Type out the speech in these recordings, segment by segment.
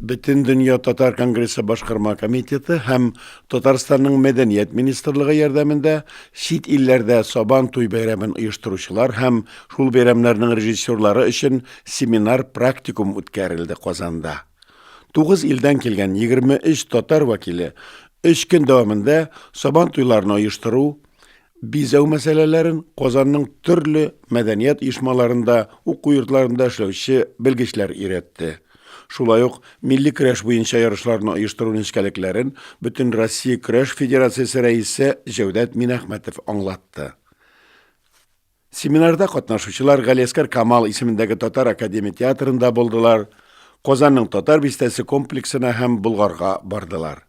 Бөтен дөнья татар конгрессы башкарма комитеты һәм Татарстанның мәдәният министрлыгы ярдәмендә чит илләрдә Сабан туй бәйрәмен оештыручылар һәм шул бәйрәмнәрнең режиссерлары өчен семинар-практикум үткәрелде Казанда. Тугыз илдән килгән 23 татар вәкиле өч көн дәвамында сабан туйларын оештыру, бизәү мәсьәләләрен Казанның төрле мәдәният оешмаларында, уку йортларында эшләүче белгечләр өйрәтте. Шулай ук милли көрәш буенча ярышларны оештыру нечкәлекләрен Бөтен Россия көрәш федерациясе рәисе Җәүдәт Минәхмәтов аңлатты. Семинарда катнашучылар Галиәскәр Камал исемендәге Татар академия театрында булдылар, Казанның Татар бистәсе комплексына һәм Болгарга бардылар.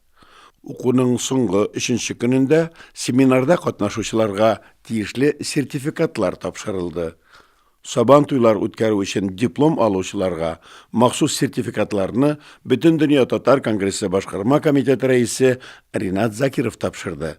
Укуның соңгы өченче көнендә семинарда катнашучыларга тиешле сертификатлар тапшырылды. Сабан туйлар үткәрү өчен диплом алучыларга махсус сертификатларны Бөтендөнья татар конгрессы башкарма комитеты рәисе Ринат Закиров тапшырды.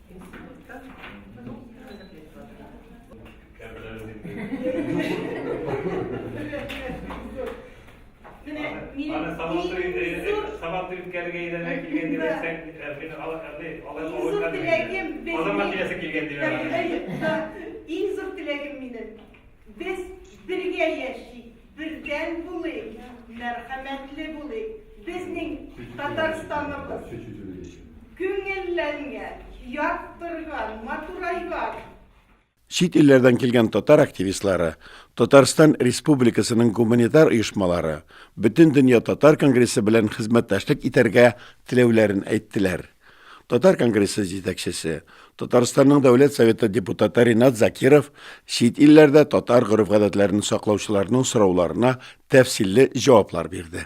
Иң зур теләгем минем. Без бергә яшик. Бердәм булыйк, мәрхәмәтле булыйк, безнең Татарстаныбыз күңелләнгән, яктырган, матурайган. Чит илләрдән килгән татар активистлары, Татарстан Республикасының гуманитар оешмалары Бөтендөнья татар конгрессы белән хезмәттәшлек итәргә теләүләрен әйттеләр. Татар конгрессы җитәкчесе, Татарстанның Дәүләт Советы депутаты Ринат Закиров чит илләрдә татар гореф-гадәтләрен саклаучыларның сорауларына тәфсилле җаваплар бирде.